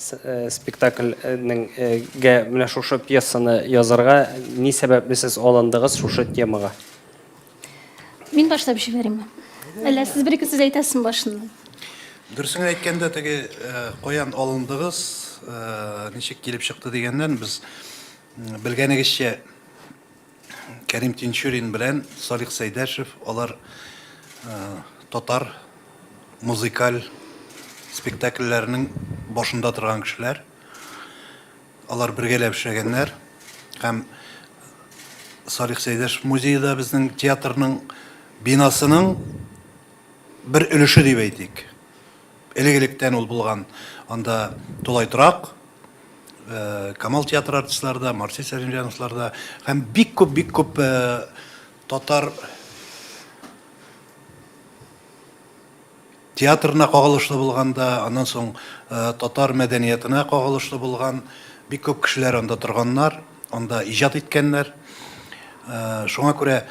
Спектакль нең гә менә шушы пьесаны язарга ни сәбәпле сез алындыгыз шушы темага? Мин башлап җибәремме? Әллә сез бер-ике сүз әйтәсезме башыннан? Дөресен әйткәндә, теге каян алындыгыз, ничек килеп чыкты дигәннән, без белгәнегезчә, Кәрим Тинчурин белән Салих Сәйдәшев алар татар музыкаль спектакльләренең башында торган кешеләр. Алар бергәләп эшләгәннәр һәм Салих Сәйдәшев музее да безнең театрның бинасының бер өлеше дип әйтик. Элек-электән ул булган анда тулай торак, Камал театры артистлары да, Марсель Сәлимҗановлар да һәм бик күп, бик күп татар театрына кагылышлы булган да, аннан соң татар мәдәниятына кагылышлы булган бик күп кешеләр анда торганнар, анда иҗат иткәннәр. Шуңа күрә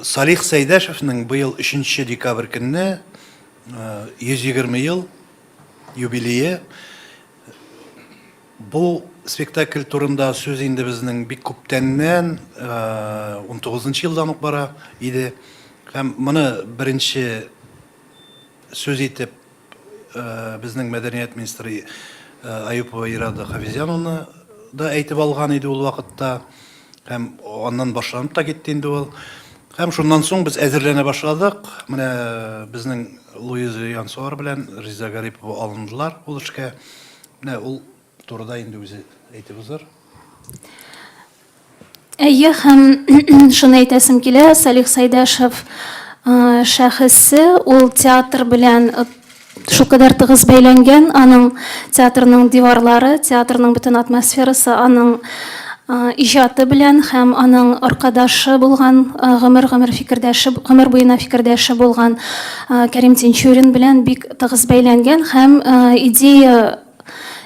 Салих Сәйдәшевнең быел өченче декабрь көнне 120 ел юбилее. Бу спектакль турында сүз инде безнең бик күптәннән, 19 нчы елдан ук бара иде. Һәм моны беренче сүз итеп безнең мәдәният министры Аюпова Ирада Хафизяновна да әйтеп алган иде ул вакытта. Һәм аннан башланып та китте инде ул. Һәм шуннан соң без әзерләнә башладык. Менә безнең Луиза Янсуар белән Риза Гарипова алындылар ул эшкә. Менә ул турыда инде үзе әйтеп узыр. Әйе, һәм шуны әйтәсем килә, Салих Сайдашев шәхесе ул театр белән Шулкадәр тыгыз бәйләнгән аның театрның диварлары, театрның бөтен атмосферасы аның иҗаты белән һәм аның аркадашы булган, гомер-гомер фикердәше, гомер буена фикердәше булган Кәрим Тинчурин белән бик тыгыз бәйләнгән һәм идея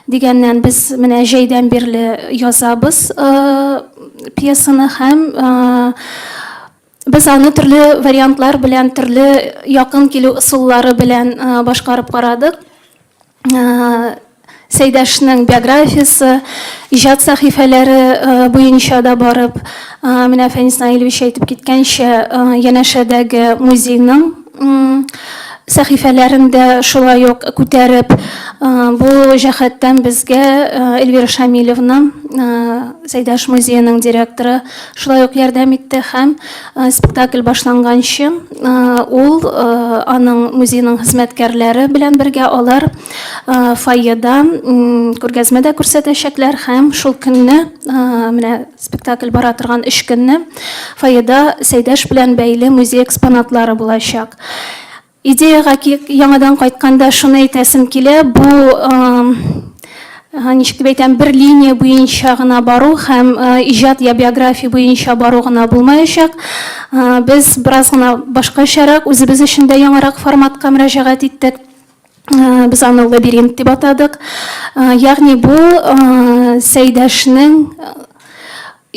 дигәннән без менә җәйдән бирле язабыз пьесаны һәм Без аны төрле вариантлар белән, төрле якын килү ысуллары белән башкарып карадык. Сәйдәшнең биографиясе, иҗат сәхифәләре буенча да барып, менә Фәнис Наилевич әйтеп киткәнчә, янәшәдәге музейның сәхифәләрен дә шулай ук күтәреп, бу җәһәттән безгә Эльвира Шамилевна, Сәйдәш музееның директоры, шулай ук ярдәм итте һәм спектакль башланганчы ул аның музейның хезмәткәрләре белән бергә алар фойеда күргәзмә дә күрсәтәчәкләр һәм шул көнне менә спектакль бара торган өч көнне фойеда сәйдәш белән бәйле музей экспонатлары булачак Идеягә яңадан кайтканда шуны әйтәсем килә, бу, ничек дип әйтәм, бер линия буенча гына бару һәм иҗат я биография буенча бару гына булмаячак. Без бераз гына башкачарак, үзебез өчен дә яңарак форматка мөрәҗәгать иттек. Без аны лабиринт дип атадык. Ягъни бу Сәйдәшнең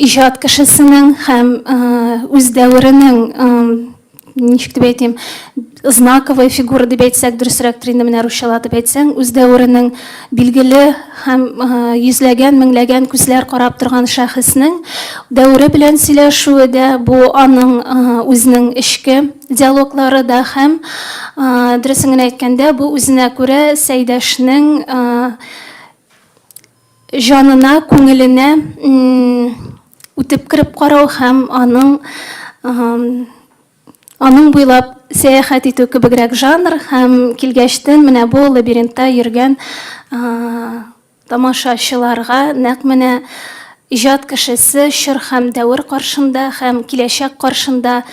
иҗат кешесенең һәм үз дәверенең ничек дип әйтим знаковый фигура дип әйтсәк дөресрәктер инде менә русчалап дип әйтсәң үз дәверенең билгеле һәм йөзләгән меңләгән күзләр карап торган шәхеснең дәвере белән сөйләшүе дә бу аның үзенең эчке диалоглары да һәм дөресен генә әйткәндә бу үзенә күрә сәйдәшнең җанына, күңеленә үтеп кереп карау һәм аның аның буйлап сәяхәт итү кебегрәк жанр һәм килгәчтен менә бу лабиринтта йөргән тамашачыларга нәкъ менә иҗат кешесе чор һәм дәвер каршында һәм киләчәк каршында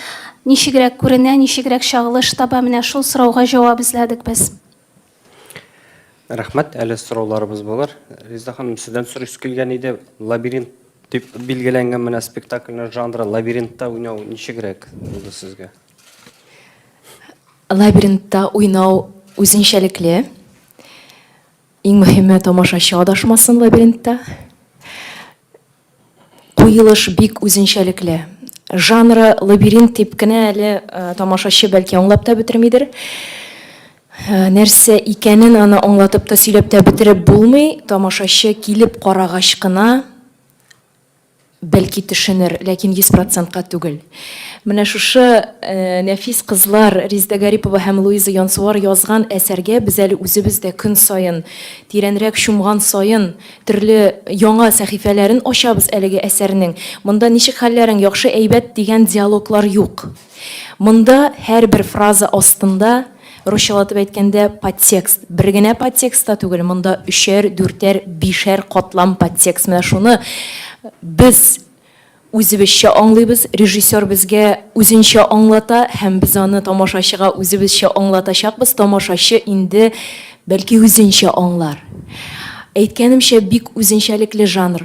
ничегрәк күренә, ничегрәк чагылыш таба, менә шул сорауга җавап эзләдек без. Рәхмәт. Әле сорауларыбыз булыр. Резеда ханым, сездән сорыйсы килгән иде. Лабиринт дип билгеләнгән менә спектакльнең жанры лабиринтта уйнау ничегрәк булды сезгә? Лабиринтта уйнау үзенчәлекле. Иң мөһиме, тамашачы адашмасын лабиринтта. Куелыш бик үзенчәлекле. Жанры лабиринт дип кенә әле тамашачы бәлки аңлап та бетермидер. Нәрсә икәнен аны аңлатып та, сөйләп тә бетереп булмый, тамашачы килеп карагач кына бәлки төшенер, ләкин йөз процентка түгел. Менә шушы нәфис кызлар, Риздә Гарипова һәм Луиза Янсуар язган әсәргә без әле үзебез дә көн саен, тирәнрәк чумган саен, Төрле яңа сәхифәләрен ачабыз әлеге әсәрнең. Монда ничек хәлләрең, яхшы, әйбәт дигән диалоглар юк. Монда һәрбер фраза астында, русчалатып әйткәндә, подтекст. Бер генә подтекст та түгел, монда өчәр, дүртәр, бишәр катлам подтекст. Менә шуны без, Үзебезчә аңлыйбыз, режиссер безгә үзенчә аңлата һәм без аны тамашачыга үзебезчә аңлатачакбыз, тамашачы инде, бәлки, үзенчә аңлар. Әйткәнемчә, бик үзенчәлекле жанр.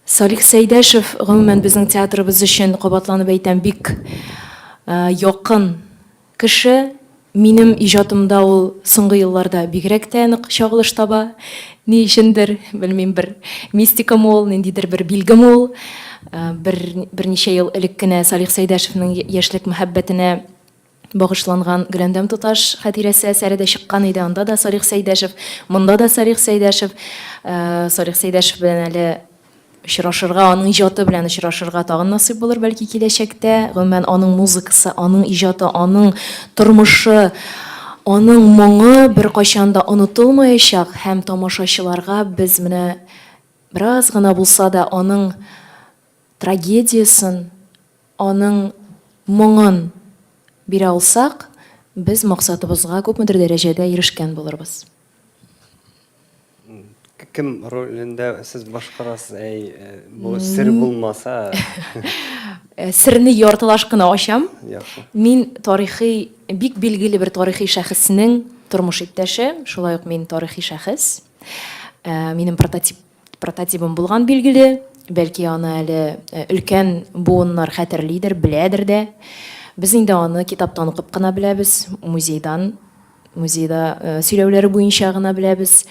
Салих Сәйдәшев, гомумән, безнең театрыбыз өчен, кабатланып әйтәм, бик якын. Кеше, минем иҗатымда ул соңгы елларда бигрәк тә нык чагылыш таба. Ни өчендер, белмим, бер мистикамы ул, ниндидер бер билгеме ул. Бер, берничә ел элек кенә Салих Сәйдәшевнең яшьлек мәхәббәтенә багышланган Гөләндәм туташ хатирәсе әсәре дә чыккан иде, анда да Салих Сәйдәшев, монда да Салих Сәйдәшев. Салих Сәйдәшев белән әле очрашырга, аның иҗаты белән очрашырга тагын насыйп булыр, бәлки, киләчәктә. Гомумән, аның музыкасы, аның иҗаты, аның тормышы, аның моңы беркайчан да онытылмаячак һәм тамашачыларга без менә бераз гына булса да аның трагедиясен, аның моңын бирә алсак, без максатыбызга күпмедер дәрәҗәдә ирешкән булырбыз. Кем ролендә сез башкарасыз? Әй, э, бу сер булмаса. Э, Серне яртылаш кына ачам. Яхшы. Мин тарихи, бик билгеле бер тарихи шәхеснең тормыш иптәше, шулай ук мин тарихи шәхес. Э, Минем прототип Прототибым булган билгеле, бәлки аны әле өлкән буыннар хәтерлидер, беләдер дә. Без инде аны китаптан укып кына беләбез, музейдан, музейда сөйләүләре буенча гына беләбез.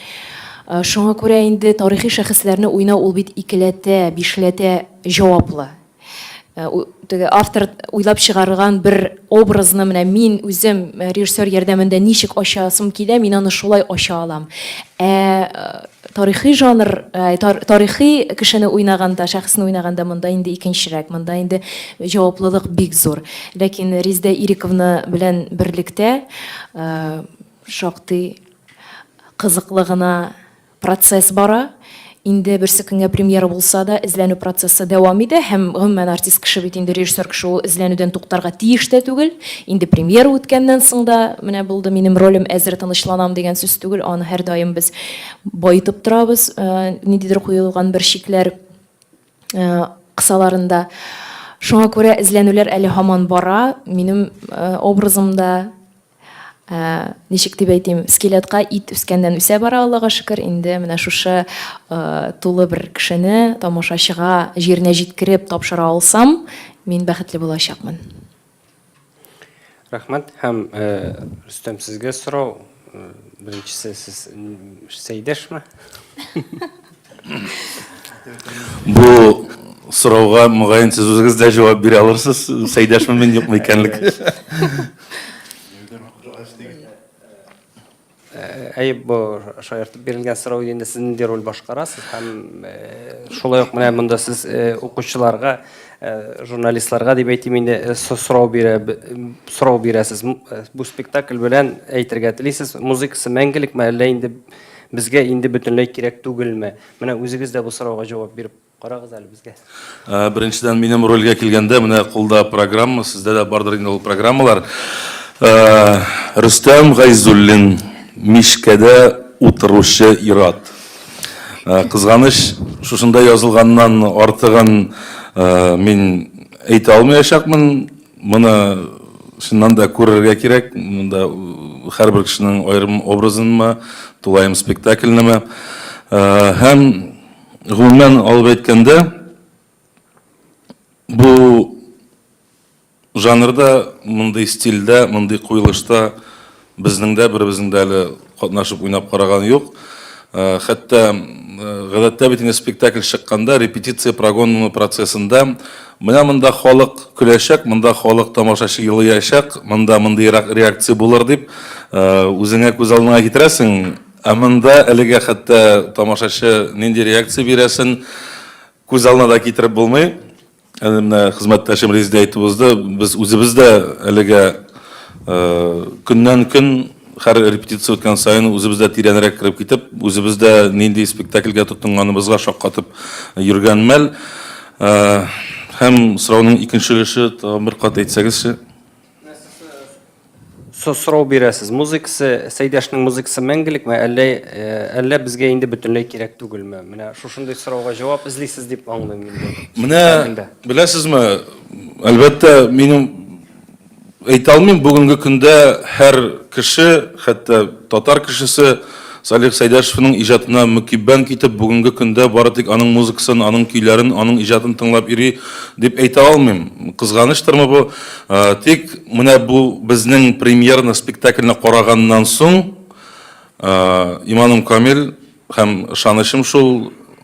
Шуңа күрә инде тарихи шәхесләрне уйнау ул бит икеләтә, бишләтә җаваплы. Э, теге автор уйлап чыгарган бер образны менә мин үзем э, режиссер ярдәмендә ничек ачасым килә, мин аны шулай ача алам. Ә э, тарихи жанр, тарихи кешене уйнаганда, шәхесне уйнаганда монда инде икенчерәк, монда инде җаваплылык бик зур. Ләкин Риздә Ириковна белән берлектә шактый кызыклы гына Процесс бара. Инде берсе көнгә премьера булса да, эзләнү процессы дәвам итә һәм, гомумән, артист кеше бит инде, режиссер кеше ул эзләнүдән туктарга тиеш тә түгел. Инде премьера үткәннән соң да, менә булды, минем ролем әзер, тынычланам дигән сүз түгел, аны һәрдаим без баетып торабыз, ниндидер куелган бер чикләр кысаларында. Шуңа күрә эзләнүләр әле һаман бара. Минем образым да, ничек дип әйтим, скелетка ит үскәннән үсә бара, Аллага шөкер, инде менә шушы тулы бер кешене тамашачыга җиренә җиткереп тапшыра алсам, мин бәхетле булачакмын. Рәхмәт һәм Рөстәм сезгә сорау. Беренчесе сез Сәйдәшме? Бу сорауга мөгаен сез үзегез дә җавап бирә алырсыз, Сәйдәшме мин юкмы икәнлек. Әйе, бу шаяртып бирелгән сорау инде сез нинди роль башкарасыз һәм шулай ук менә монда сез укучыларга, журналистларга дип әйтим инде, сорау бирә, сорау бирәсез. Бу спектакль белән әйтергә телисез, музыкасы мәңгелекме, әллә инде Безгә инде бөтенләй кирәк түгелме? Менә үзегез дә бу сорауга җавап биреп карагыз әле безгә. Беренчедән, минем рольгә килгәндә, менә кулда программа, сездә дә бардыр инде ул программалар. Рөстәм Гайзуллин, мичкәдә утыручы ир-ат. Кызганыч, шушында язылганнан артыгын мин әйтә алмаячакмын. Моны чыннан да күрергә кирәк, монда һәрбер кешенең аерым образынмы, тулаем спектакльнеме. Һәм гомумән алып әйткәндә, бу жанрда, мондый стильдә, мондый куелышта Безнең дә беребезнең дә әле катнашып уйнап караганы юк. Хәтта гадәттә бит инде спектакль чыкканда репетиция прогонмы процессында менә монда халык көләчәк, монда халык тамашачы елыячак, монда мондыйрак реакция булыр дип үзеңә күз алдыңа китерәсең. Ә монда әлегә хәтта тамашачы нинди реакция бирәсен күз алдына да китереп булмый. Әнә менә хезмәттәшем Резеда әйтеп узды, без үзебез дә әлегә көннән-көн һәр репетиция үткән саен үзебез дә тирәнрәк кереп китеп, үзебез дә нинди спектакльгә тотынганыбызга шаккатып йөргән мәл. Һәм сорауның икенче өлеше тагын бер кат әйтсәгезче? Со сорау бирәсез, музыкасы, Сәйдәшнең музыкасы мәңгелекме, әллә, э, әллә безгә инде бөтенләй кирәк түгелме? Менә шушындый сорауга җавап эзлисез дип аңлыйм инде. Менә Хәлендә. беләсезме, әлбәттә, минем әйтә алмыйм, бүгенге көндә һәр кеше, хәтта татар кешесе Салих Сәйдәшевның иҗатына мөкиббән китеп, бүгенге көндә бары тик аның музыкасын, аның көйләрен, аның иҗатын тыңлап йөри, дип әйтә алмыйм. Кызганыштырмы бу? Тик менә бу безнең премьерный спектакльне караганнан соң иманым камил һәм ышанычым шул,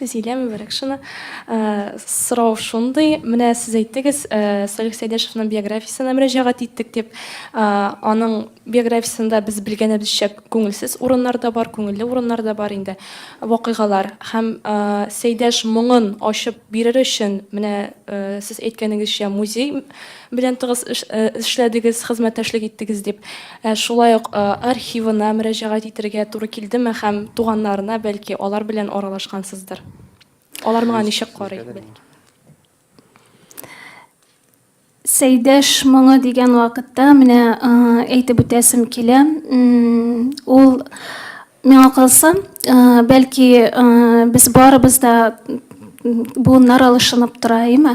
Зилә Мөбәрәкшина, Сорау шундый, менә сез әйттегез, Салих Сәйдәшевнең биографиясенә мөрәҗәгать иттек дип. Аның биографиясендә без белгәнебезчә күңелсез урыннар да бар, күңелле урыннар да бар инде, вакыйгалар. Һәм Сәйдәш моңын ачып бирер өчен, менә сез әйткәнегезчә, музей белән тыгыз эшләдегез, хезмәттәшлек иттегез дип, шулай ук архивына мөрәҗәгать итәргә туры килдеме һәм туганнарына, бәлки, алар белән аралашкансыздыр? Алар моңа ничек карый, бәлки? Сәйдәш моңы дигән вакытта, менә әйтеп үтәсем килә, ул Миңа калса, бәлки, без барыбыз да буыннар алышынып тора, әйме?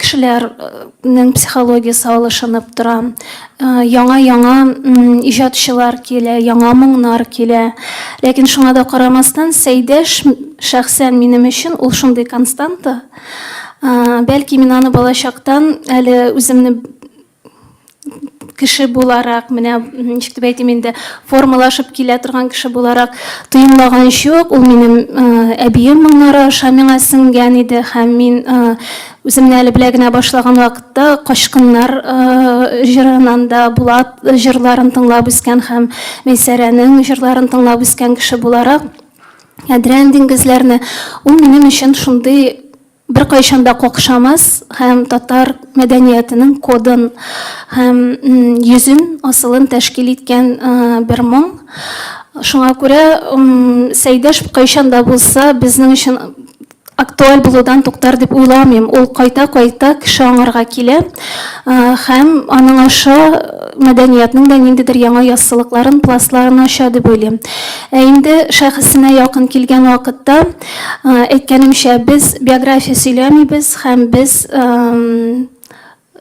Кешеләрнең психологиясе алышынып тора. Яңа-яңа иҗатчылар килә, яңа моңнар килә. Ләкин шуңа да карамастан, Сәйдәш, шәхсән минем өчен ул шундый константа. Бәлки, мин аны балачактан әле үземне кеше буларак, менә ничек дип әйтим инде, формалашып килә торган кеше буларак тоемлаган чук, ул минем әбием моңнары аша миңа сеңгән иде һәм мин үземне әле белә генә башлаган вакытта качкыннар җырынан да Булат җырларын тыңлап үскән һәм Мейсәрәнең җырларын тыңлап үскән кеше буларак, Ядрән диңгезләрне ул минем өчен шундый Беркайчан да какшамас һәм татар мәдәниятенең кодын һәм йөзен, асылын тәшкил иткән бер моң. Шуңа күрә Сәйдәш кайчан да булса безнең өчен актуаль булудан туктар дип уйламыйм. Ул кайта-кайта кеше аңарга килә һәм аның аша мәдәниятнең дә ниндидер яңа яссылыкларын, пластларын ача дип уйлыйм. Ә инде шәхесенә якын килгән вакытта, Әйткәнемчә, без биография сөйләмибез һәм без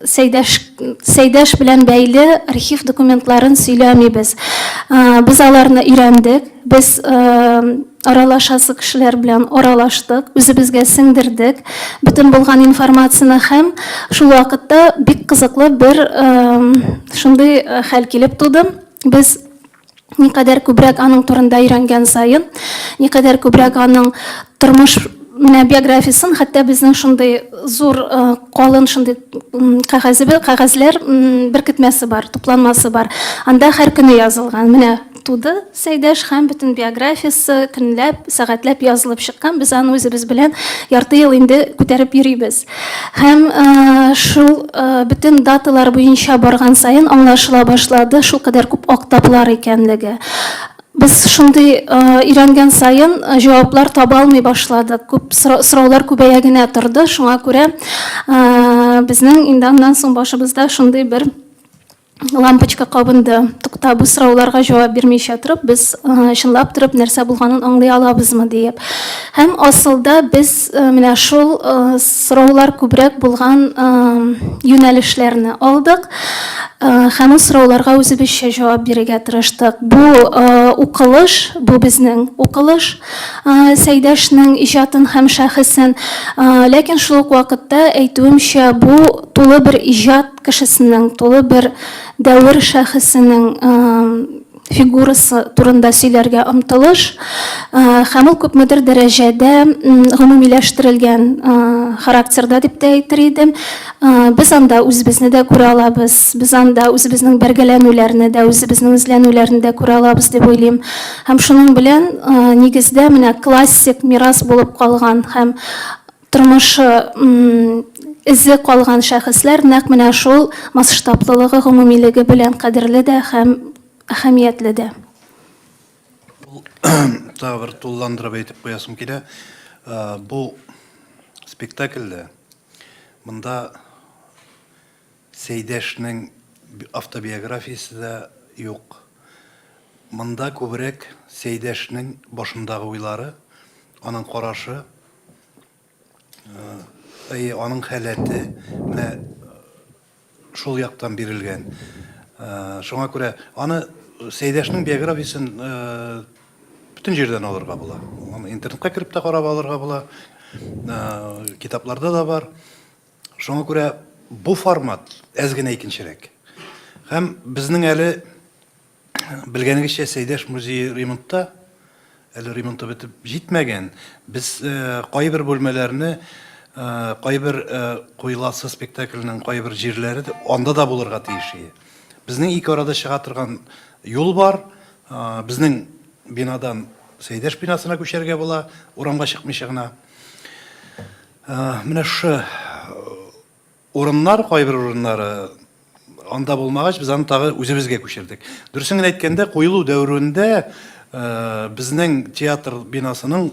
Сәйдәш, Сәйдәш белән бәйле архив документларын сөйләмибез. Без аларны өйрәндек, без аралашасы кешеләр белән аралаштык, үзебезгә сеңдердек бөтен булган информацияне һәм шул вакытта бик кызыклы бер шундый хәл килеп туды. Без Никадәр күбрәк аның турында өйрәнгән саен, никадәр күбрәк аның тормыш менә биографиясен, хәтта безнең шундый зур калын шундый кәгазебе, кәгазьләр беркетмәсе бар, тупланмасы бар. Анда һәр көне язылган. Менә туды Сәйдәш һәм бөтен биографиясе көнләп, сәгатьләп язылып чыккан. Без аны үзебез белән ярты ел инде күтәреп йөрибез. Һәм шул бөтен даталар буенча барган саен аңлашыла башлады, шул кадәр күп актаплар икәнлеге. Без шундый өйрәнгән саен җаваплар таба алмый башладык. Күп сораулар күбәя генә торды. Шуңа күрә безнең инде аннан соң башыбызда шундый бер лампочка кабынды. Тукта, бу сорауларга җавап бирмичә торып, без чынлап торып нәрсә булганын аңлый алабызмы диеп. Һәм асылда без менә шул сораулар күбрәк булган юнәлешләрне алдык. Һәм ул сорауларга үзебезчә җавап бирергә тырыштык. Бу укылыш, бу безнең укылыш, Сәйдәшнең иҗатын һәм шәхесен. Ләкин шул ук вакытта әйтүемчә, бу тулы бер иҗат кешесенең, тулы бер дәвер шәхесенең фигурасы турында сөйләргә омтылыш һәм ул күпмедер дәрәҗәдә гомумиләштерелгән характерда дип тә әйтер идем. Без анда үзебезне дә күрә алабыз, без анда үзебезнең бәргәләнүләрне дә, үзебезнең эзләнүләрне дә күрә алабыз дип уйлыйм. Һәм шуның белән нигездә менә классик мирас булып калган һәм Тормышы эзе калган шәхесләр нәкъ менә шул масштаблылыгы, гомумилеге белән кадерле дә һәм әһәмиятле дә. Тагы бер тулыландырып әйтеп куясым килә. Бу спектакльдә монда Сәйдәшнең автобиографиясе дә юк. Монда күбрәк Сәйдәшнең башындагы уйлары, аның карашы, Әйе, аның халәте менә шул яктан бирелгән. Шуңа күрә аны Сәйдәшнең биографиясен бөтен җирдән алырга була. Аны интернетка кереп тә карап алырга була. Китапларда да бар. Шуңа күрә бу формат әз генә икенчерәк. Һәм безнең әле Белгәнегезчә, Сәйдәш музее ремонтта, әле ремонты бетеп җитмәгән. Без кайбер бүлмәләрне, кайбер Куеласы спектакленең кайбер җирләре анда да булырга тиеш иде. Безнең ике арада чыга торган юл бар. Безнең бинадан Сәйдәш бинасына күчәргә була, урамга чыкмыйча гына. Менә шушы Урыннар, кайбер урыннары анда булмагач, без аны тагы үзебезгә күчердек. Дөресен генә әйткәндә, куелу дәверендә безнең театр бинасының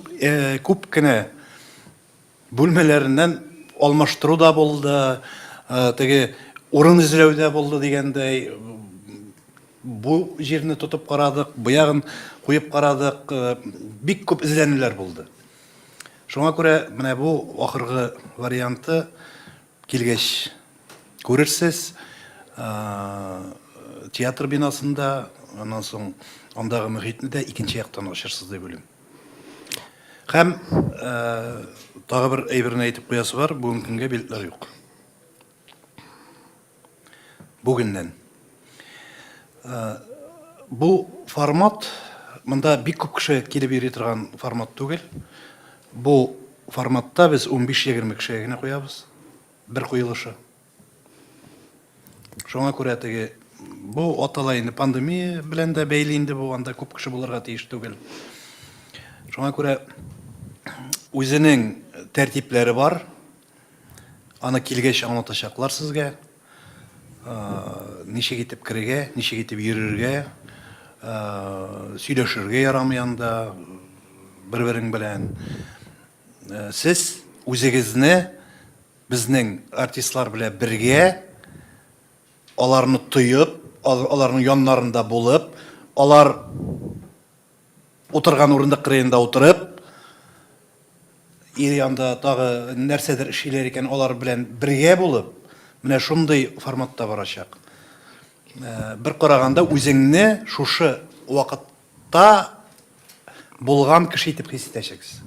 күп кенә бүлмәләреннән алмаштыру да булды, теге урын эзләү дә булды дигәндәй, бу җирне тотып карадык, бу ягын куеп карадык, бик күп эзләнүләр булды. Шуңа күрә менә бу ахыргы варианты килгәч күрерсез. Театр бинасында, аннан соң андагы мөхитне дә икенче яктан ачырсыз дип уйлыйм. Һәм тагы бер әйберне әйтеп куясы бар, бүгенге көнгә билетлар юк. Бүгеннән. Бу формат, монда бик күп кеше килеп йөри торган формат түгел. Бу форматта без 15-20 кешегә генә куябыз. Бер куелышы. Шуңа күрә теге бу атала инде пандемия белән дә бәйле инде бу, анда күп кеше булырга тиеш түгел. Шуңа күрә үзенең тәртипләре бар, Аны килгәч аңлатачаклар сезгә. Ничек итеп керергә, ничек итеп йөрергә, сөйләшергә ярамый анда бер-берең белән. Сез үзегезне безнең артистлар белән бергә, аларны тоеп, аларның яннарында булып, алар Утырган урындык кырыенда утырып, ир янда тагы нәрсәдер эшлиләр икән, алар белән бергә булып, менә шундый форматта барачак. Бер караганда үзеңне шушы вакытта булган кеше итеп хис итәчәксез.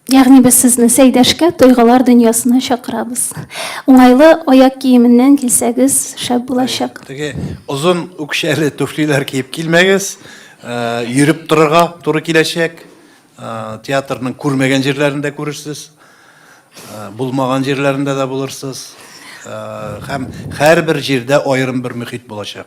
Ягъни без сезне Сәйдәшкә тойгылар дөньясына чакырабыз. Уңайлы аяк киеменнән килсәгез, шәп булачак. Теге озын үкчәле туфлиләр киеп килмәгез. Йөреп торырга туры киләчәк. Театрның күрмәгән җирләрен дә күрерсез. Булмаган җирләрендә дә булырсыз. Һәм һәрбер җирдә аерым бер мөхит булачак.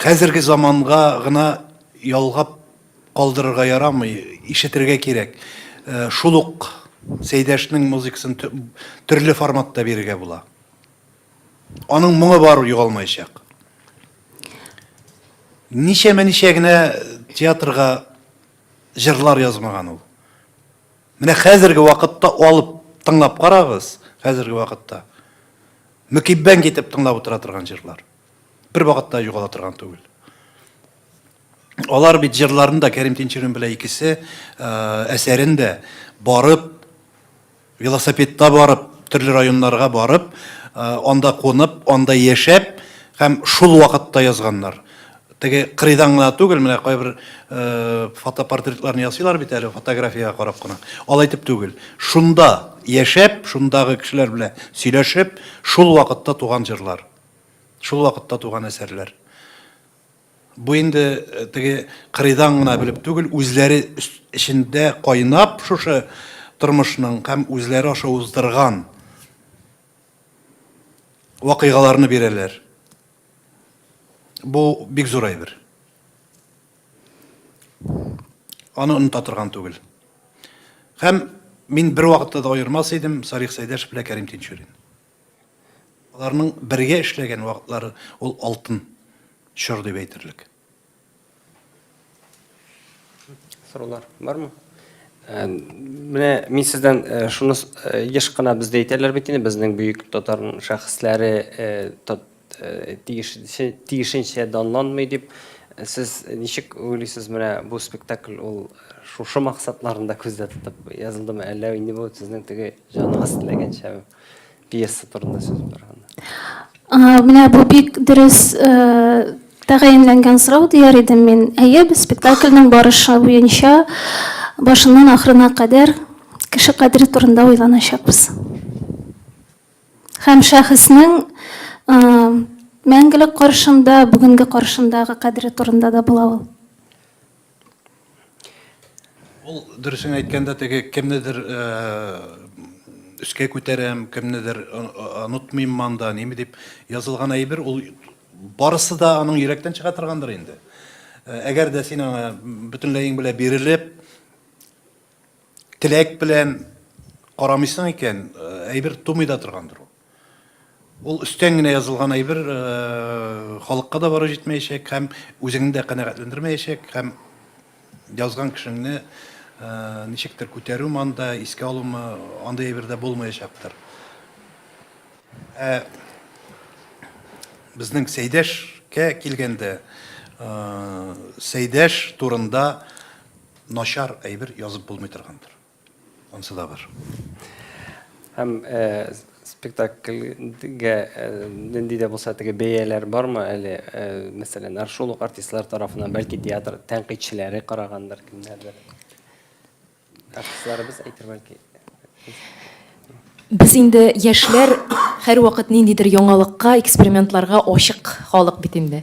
Хәзерге заманга гына ялгап калдырырга ярамый, ишетергә кирәк. Э, шул ук Сәйдәшнең музыкасын төрле форматта бирергә була. Аның моңы бар югалмаячак. Ничәмә ничә генә театрга җырлар язмаган ул. Менә хәзерге вакытта алып тыңлап карагыз, хәзерге вакытта. Мөкиббән китеп тыңлап утыра торган җырлар. Бер вакытта югала торган түгел. Алар бит җырларын да Кәрим Тинчурин белән икесе әсәрен дә барып велосипедта барып, төрле районнарга барып, анда кунып, анда яшәп һәм шул вакытта язганнар. Теге кырыйдан гына түгел, менә кайбер э, фотопортретларны ясыйлар бит әле фотографиягә карап кына. Алай итеп түгел. Шунда яшәп, шундагы кешеләр белән сөйләшеп, шул вакытта туган җырлар. Шул вакытта туган әсәрләр. Бу инде э, теге кырыйдан гына белеп түгел, үзләре эчендә кайнап шушы тормышның һәм үзләре аша уздырган вакыйгаларны бирәләр. Бу бик зур әйбер. Аны оныта торган түгел. Һәм мин бер вакытта да аермас идем Сарих Сәйдәш белән Кәрим Тинчурин. Аларның бергә эшләгән вакытлары ул алтын чор дип әйтерлек. Сорулар бармы? Э, менә мин сездән э, шуны э, еш кына бездә әйтәләр бит инде, безнең бөек татар шәхесләре тиешенчә данланмый дип. Сез ничек уйлыйсыз, менә бу спектакль ул шушы максатларында күздә тотып язылдымы, әллә инде бу сезнең теге җаныгыз теләгәнчәме? Пьеса турында сүз барганда. Менә бу бик дөрес тәгаенләнгән сорау дияр идем мин. Әйе, без спектакльнең барышы буенча башыннан ахырына кадәр кеше кадере турында уйланачакбыз. Һәм шәхеснең мәңгелек каршында, бүгенге каршындагы кадере турында да була ул. Ул дөресен әйткәндә теге кемнедер өскә күтәрәм, кемнедер онытмыйм манда, ниме дип язылган әйбер, ул барысы да аның йөрәктән чыга торгандыр инде. Әгәр дә син аңа бөтенләең белән бирелеп, теләк белән карамыйсың икән, әйбер тумый да торгандыр ул. Ул өстән генә язылган әйбер халыкка да бары җитмәячәк һәм үзеңне дә канәгатьләндермәячәк һәм язган кешеңне ничектер күтәрү манда искә алумы андый әйбердә булмаячактыр. Ә безнең Сәйдәшкә килгәндә, Сәйдәш турында начар әйбер язып булмый торгандыр. Ансы да бар. Һәм спектакльгә нинди дә булса теге бәяләр бармы әле? Мәсәлән, шул ук артистлар тарафыннан, бәлки театр тәнкыйтьчеләре карагандыр, кемнәрдер. Артистларыбыз әйтер бәлки. Без инде яшьләр һәрвакыт ниндидер яңалыкка, экспериментларга ачык халык бит инде.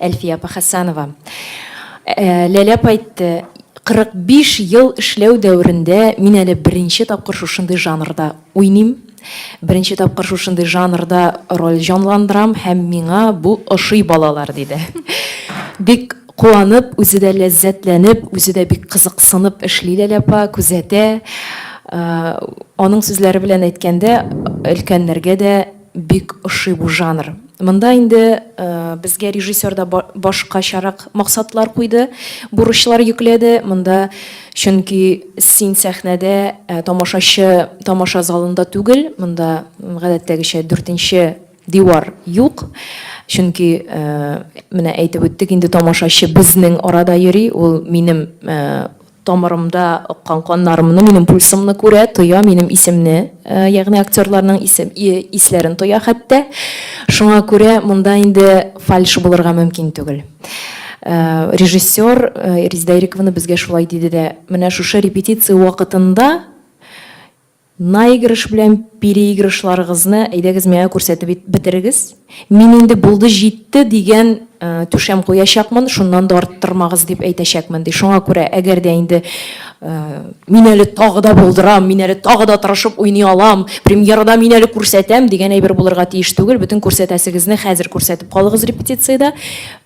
Әлфия апа Хәсәнова. Ләлә апа әйтте, 45 ел эшләү дәверендә мин әле беренче тапкыр шушындый жанрда уйныйм. Беренче тапкыр шушындый жанрда роль җанландырам һәм миңа бу ошый, балалар, диде. Бик куанып, үзе дә ләззәтләнеп, үзе дә бик кызыксынып эшли Ләлә апа, күзәтә. Аның сүзләре белән әйткәндә, өлкәннәргә дә, Бик ошый бу жанр. Монда инде безгә режиссер да башкачарак максатлар куйды, бурычлар йөкләде. Монда чөнки син сәхнәдә, ә тамашачы тамаша залында түгел. Монда гадәттәгечә дүртенче дивар юк. Чөнки менә әйтеп үттек инде, тамашачы безнең арада йөри, ул минем Тамырымда аккан каннарымны, минем пульсымны күрә, тоя, минем исемне, ягъни актерларның исем, исләрен тоя хәтта. Шуңа күрә монда инде фальш булырга мөмкин түгел. Режиссер Резидә Ириковна безгә шулай диде дә, менә шушы репетиция вакытында Наигрыш белән переигрышларыгызны әйдәгез миңа күрсәтеп бетерегез. Мин инде булды җитте дигән түшәм куячакмын, шуннан да арттырмагыз дип әйтәчәкмен, ди. Шуңа күрә, әгәр дә инде мин әле тагы да булдырам, мин әле тагы да тырышып уйный алам, премьерада мин әле күрсәтәм дигән әйбер булырга тиеш түгел. Бөтен күрсәтәсегезне хәзер күрсәтеп калыгыз репетициядә.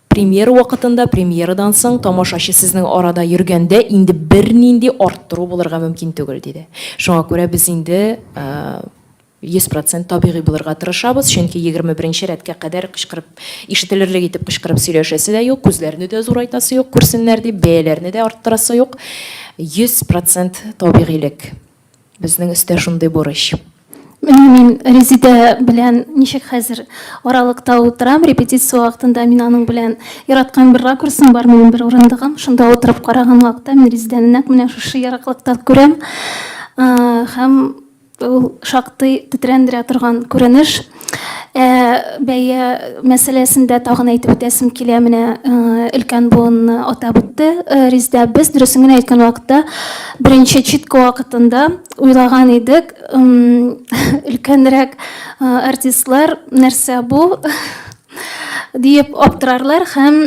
Премьера вакытында, премьерадан соң тамашачы сезнең арада йөргәндә инде бернинди арттыру булырга мөмкин түгел, диде. Шуңа күрә без инде 100 процент табигый булырга тырышабыз, чөнки егерме беренче рәткә кадәр кычкырып, ишетелерлек итеп кычкырып сөйләшәсе дә юк, күзләрне дә зурайтасы юк, күрсеннәр дип, бәяләрне дә арттырасы юк. 100 процент табигыйлек. Безнең өстә шундый бурыч. Менә мин Резидә белән ничек хәзер аралыкта утырам, репетиция вакытында мин аның белән яраткан бер ракурсым бар, минем бер урындыгым, шунда утырып караган вакытта мин Резидәне нәкъ менә шушы ераклыкта күрәм. Һәм ул шактый тетрәндерә торган күренеш. Ә, бәя мәсьәләсендә тагын әйтеп үтәсем килә, менә өлкән буынны атап үтте Резидә. Без, дөресен генә әйткән вакытта, беренче читка вакытында уйлаган идек, өлкәнрәк артистлар нәрсә бу диеп аптырарлар һәм,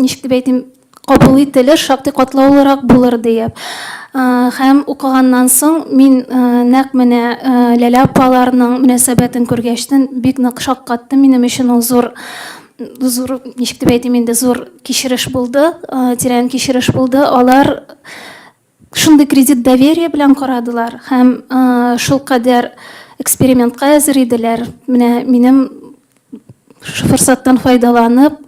ничек дип әйтим, кабул ителер, шактый катлаулырак булыр диеп. Һәм укыганнан соң мин нәкъ менә Ләлә апаларның мөнәсәбәтен күргәчтен бик нык шаккатты. Минем өчен ул зур зур ничек дип әйтим инде, зур кичереш булды, тирән кичереш булды. Алар Шундый кредит доверие белән карадылар һәм шулкадәр экспериментка әзер иделәр. Менә минем форсаттан файдаланып,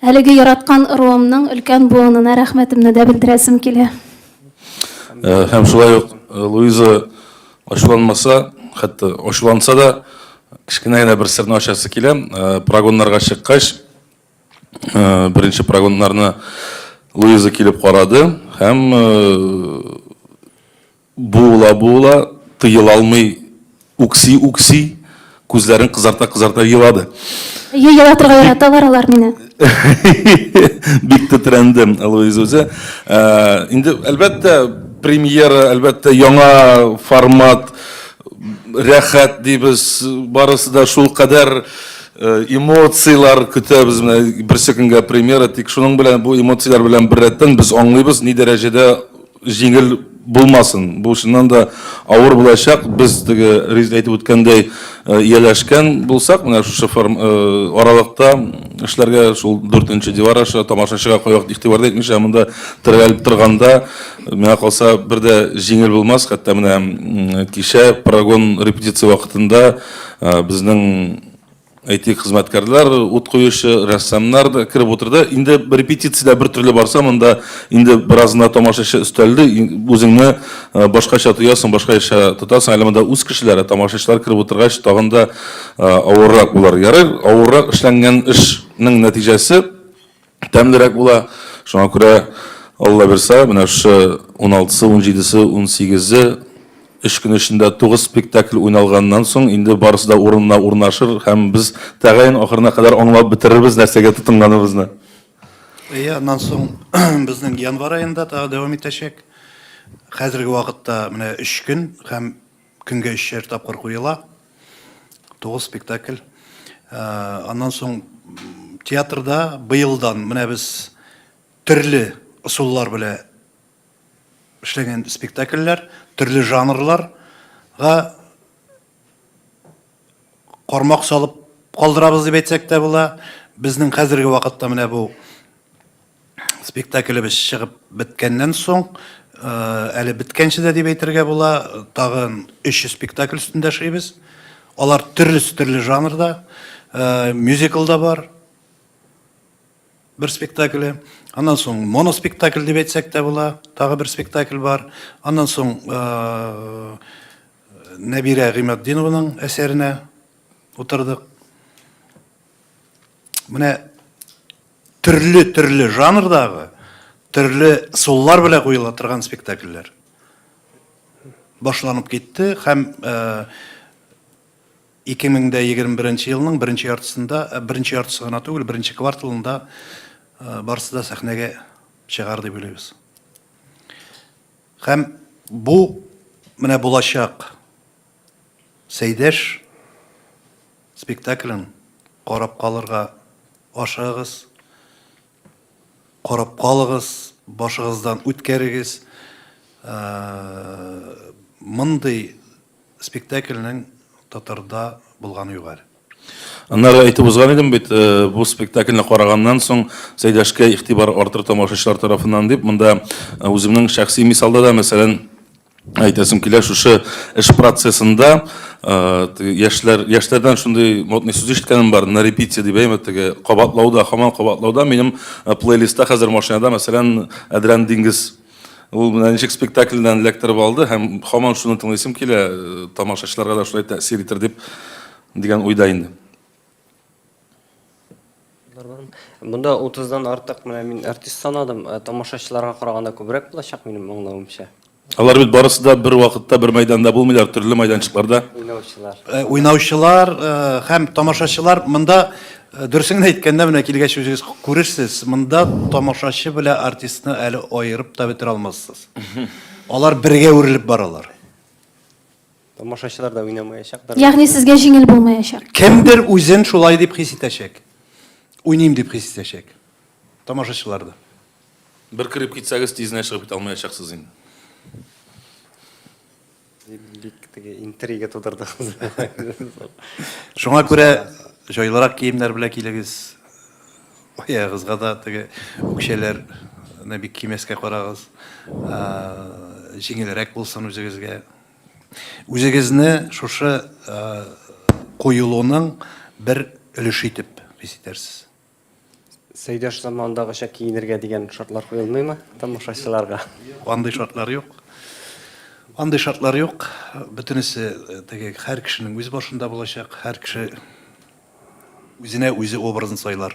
әлеге яраткан ыруымның өлкән буынына рәхмәтемне дә белдерәсем килә. Һәм шулай ук Луиза ачуланмаса, хәтта ачуланса да, кечкенә генә бер серне ачасы килә. Прогоннарга чыккач, Беренче прогоннарны Луиза килеп карады һәм буыла-буыла, тыела алмый үкси-үкси, күзләрен кызарта-кызарта елады. Әйе, елатырга яраталар алар мине. Бик тетрәнде Луиза үзе. Инде, әлбәттә, премьера, әлбәттә, яңа формат, рәхәт дибез, барысы да шулкадәр Эмоцияләр көтәбез, менә берсе көнгә премьера, тик шуның белән, бу эмоцияләр белән беррәттән без аңлыйбыз, ни дәрәҗәдә җиңел булмасын. Бу чыннан да авыр булачак. Без теге Резеда әйтеп үткәндәй, ияләшкән булсак, менә шушы аралыкта эшләргә, шул дүртенче дивар аша тамашачыга кайвакыт игътибар да итмичә монда терәлеп торганда, миңа калса, бер дә җиңел булмас. Хәтта менә кичә прогон репетиция вакытында, Ә, безнең әйтик хезмәткәрләр, ут куючы, рәссамнар да кереп утырды. Инде репетициядә бер төрле барса, монда инде беразына тамашачы өстәлде, үзеңне ә, башкача тоясың, башкача тотасың. Әле монда үз кешеләре, тамашачылар кереп утыргач, тагын да ә, авыррак булыр. Ярый, авыррак эшләнгән эшнең нәтиҗәсе тәмлерәк була. Шуңа күрә, Алла бирса, менә шушы 16-сы, 17-се, 18-е, өч көн эчендә тугыз спектакль уйналганнан соң, инде барысы да урынына урнашыр һәм без тәгаен ахырына кадәр аңлап бетерербез нәрсәгә тотынганыбызны. Әйе, аннан соң безнең январь аенда тагы дәвам итәчәк. Хәзерге вакытта менә өч көн һәм Көнгә өчәр тапкыр куела. Тугыз спектакль. Аннан соң театрда быелдан менә без төрле ысуллар белән эшләгән спектакльләр, төрле жанрларга кармак салып калдырабыз дип әйтсәк тә була. Безнең хәзерге вакытта менә бу. Спектаклебез чыгып беткәннән соң, әле беткәнче дә дип әйтергә була, тагын өч спектакль өстендә эшлибез. Алар төрлесе төрле жанрда. Мюзикл да бар, бер спектакле. Аннан соң моноспектакль дип әйтсәк тә була, тагы бер спектакль бар. Аннан соң Нәбирә Гыйматдинованың әсәренә утырдык. Менә төрле-төрле жанрдагы, төрле суллар белән куела торган спектакльләр башланып китте һәм 2021 елның беренче яртысында, беренче яртысы гына түгел, беренче кварталында барысы да сәхнәгә чыгар дип уйлыйбыз. Һәм бу менә булачак Сәйдәш Спектаклен карап калырга ашыгыгыз, карап калыгыз, башыгыздан үткәрегез. Мондый спектакльнең татарда булганы юк әле. Аннары әйтеп узган идем бит, бу спектакльне караганнан соң Сәйдәшкә игътибар артыр тамашачылар тарафыннан дип. Монда үземнең шәхси мисалда да, мәсәлән, Әйтәсем килә, шушы эш процессында яшьләр, яшьләрдән шундый модный сүз ишеткәнем бар, на репите дип әйме, теге кабатлауда, хаман кабатлауда, минем плейлистта хәзер машинада, мәсәлән, Әдрән диңгез. Ул менә ничек спектакльдән эләктереп алды һәм хаман шуны тыңлыйсым килә, тамашачыларга да шулай тәэсир итер дип дигән уйда инде. Монда 30-дан артык менә мин артист санадым. Э, тамашачыларга караганда күбрәк булачак минем аңлавымча. Алар бит барысы да бер вакытта бер мәйданда булмыйлар, төрле мәйданчыкларда. Уйнаучылар. Э, уйнаучылар э, һәм тамашачылар монда дөресен әйткәндә менә килгәч үзегез күрерсез, монда тамашачы белән артистны әле аерып та бетерә алмассыз. Алар бергә үрелеп баралар. Тамашачылар да уйнамаячактыр. Ягъни сезгә җиңел булмаячак. Кемдер үзен шулай дип хис итәчәк. Уйныйм дип хис итәчәк. Тамашачылар да. Бер кереп китсәгез, тизенә чыгып китә алмаячаксыз инде. Бик теге интрига тудырдыгыз. Шуңа күрә җайлырак киемнәр белән килегез. Аягыгызга да теге үкчәләрне бик кимәскә карагыз. Җиңелрәк булсын үзегезгә. Үзегезне шушы коелуның бер өлеше итеп хис итәрсез? Сәйдәш заманындагыча киенергә дигән шартлар куелмыймы тамашачыларга? Юк, андый шартлар юк. Андый шартлар юк. Бөтенесе теге һәр кешенең үз башында булачак. Һәр кеше үзенә үзе образын сайлар.